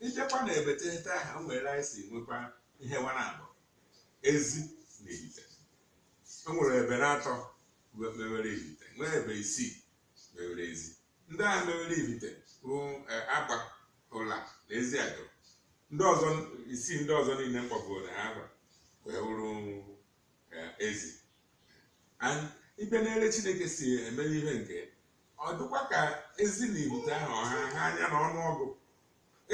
Ịbịakwa na ebe teghete ahụ, o nwere anyị si nwekwa nkewa na-abụ ezi na ibite. O nwere ebe na atọ we- mewere ibite, nwee ebe isii mewere ezi. Ndị ahụ mewere ibite bụ eh, Agba, Ụla na Eziagụlụ. Ndị ọzọ isii ndị ọzọ niile m kpọburu n'aha agba wee wụrụ eh, ezi And ịbịa n'ele Chineke si eme ihe nke ọ dịkwa ka ezi na ibite ahụ ọha ha anya na ọnụ ọgụ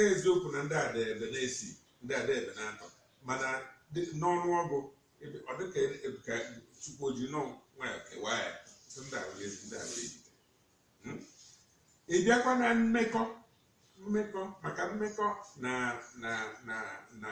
eziokwu na ndị a dị ebe na isii ndị a dị ebe na atọ mana dị- n'ọnụ ọgụ ebe- ọ dịka ebe ka Chukwu o ji nọ nwayọ kewaa ya sị ndị a wụ ezi ndị a wụ ibite ị bịakwa na mmekọ mmekọ maka mmekọ na na na na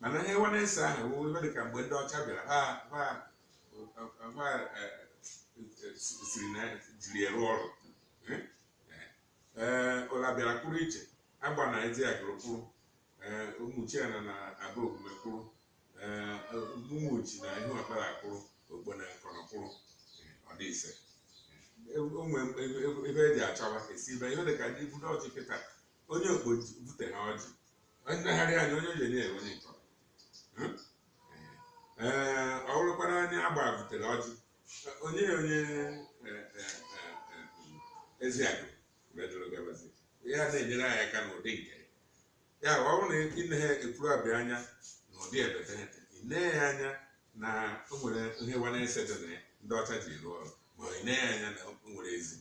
mana nkewa na ise ahụ wụ ihe dị ka mgbe ndị ọcha bịara ha ha ha eh, eh, siri na jiri ya rụọ ọrụ Eh, eh, eh, Ụla bịara kwụrụ iche Agba na Eziagụlụ kwụrụ eh, Ụmụchiana na Abọgwume kwụrụ eh, Ụmụchi na Ihuọkpala kwụrụ Okpo na Nkono kwụrụ Eh, ọ dị ise o nwe ebe eji achọba esi ibe ihe dị ka ndị ibu ọjị kịta onye Okpo ji bute ha ọjị onye nagharị anya onye o je na-enye onye Nkono Hmm? ee ọ bụrụkwara onye Agba butere ọjị o nye onye eh, eh, eh, eh, Eziagụlụ dịrị gabazi ya na-enyere anyị aka n'ụdị nke ya. ya ọ bụrụ na ị nee Ekwulọbịa anya n'ụdị ebe teghete ị nee ya anya na o nwere nkewa na ise dị na ya ndị ọcha ji rụọ ọrụ ma ị nee ya anya na o nwere ezi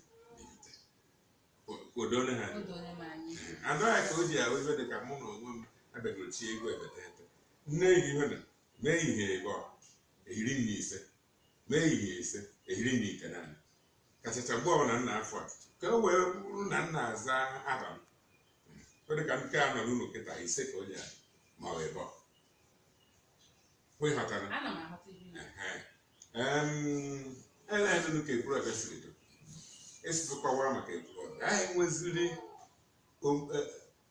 odone ha anaghị ka o ji ahụ ibe dị ka mụ na onwe m abịagoro tie egwu ebe teghete nne gị ibe na mee ihe ebe ọ ehiri m ise mee ihe ise ehiri m ite naanị kachacha mgbe ọbụla nna afọ a ka o wee bụrụ na nna aza aha m ọ dị ka nke a nọ n'ụlọ kịta ise ka o ji ahụ ma ọ ebe ọ ịghọtara Em, elenụ ka Ekwulọbịa siri do esizụkwawara maka Ekwulọbịa anyị nweziri om- eh,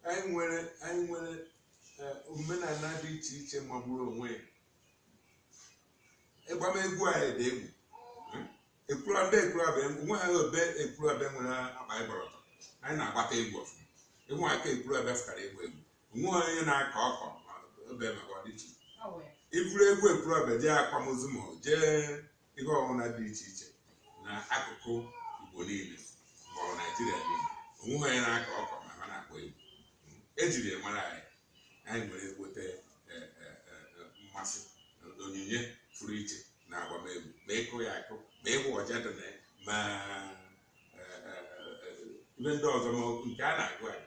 anyị nwere anyị nwere eh, omenala dị iche iche magburu onwe ya agbamegwu anyị dị egwu Ekwulọbịa Ekwulọbịa onwe ha obe Ekwulọbịa nwere akpa ịgbara ọtọ anyị na-agbata egwu ọfụma ịnwe aka Ekwulọbịa fụtara egwu egwu onweghị onye na-akọ ọkọ ma obe maka ọdịiche i buru egwu Ekwulọbịa jee akwamozu ma ọ jee ihe ọbụla dị iche iche na akụkụ Igbo niile ma ọ bụ Naịjirịa niile onweghị onye na-akọ ọkọ ma ha na-akpọ egwu ejiri ya mara anyị anyị nwere ekweta mmasị na onyinye pụrụ iche na agbamegwu ma ịkụ ya akụ ma ịfụ ọja dị na ya ma eh, eh, eh, ihe ndị ọzọ ma ọ bụ nke a na-agụ anyị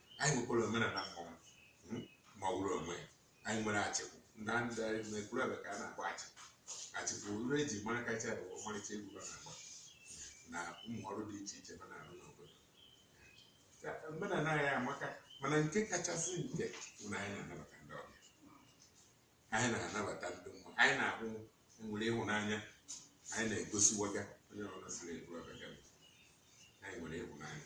anyị nwekwara omenala mmọnwụ hmm, mmọnwụ n'onwe ya anyị nwere achịkwu naanị n'Ekwulọbịa ka a na-akpọ achịkwu achịkwu ihe eji mara kacha bụ ọmarịcha egwu ha na-agba na ụmụ ọrụ dị iche iche ha na-arụ n'obodo Ka omenala anyị amaka mana nke kachasị nke bụ na anyị na-anabata ndị ọbịa anyị na-anabata ndị mmụọ anyị na-ahụ nwere ịhụnanya anyị na-egosiwaga onye ọbụla siri Ekwulọbịa anyị nwere ịhụnanya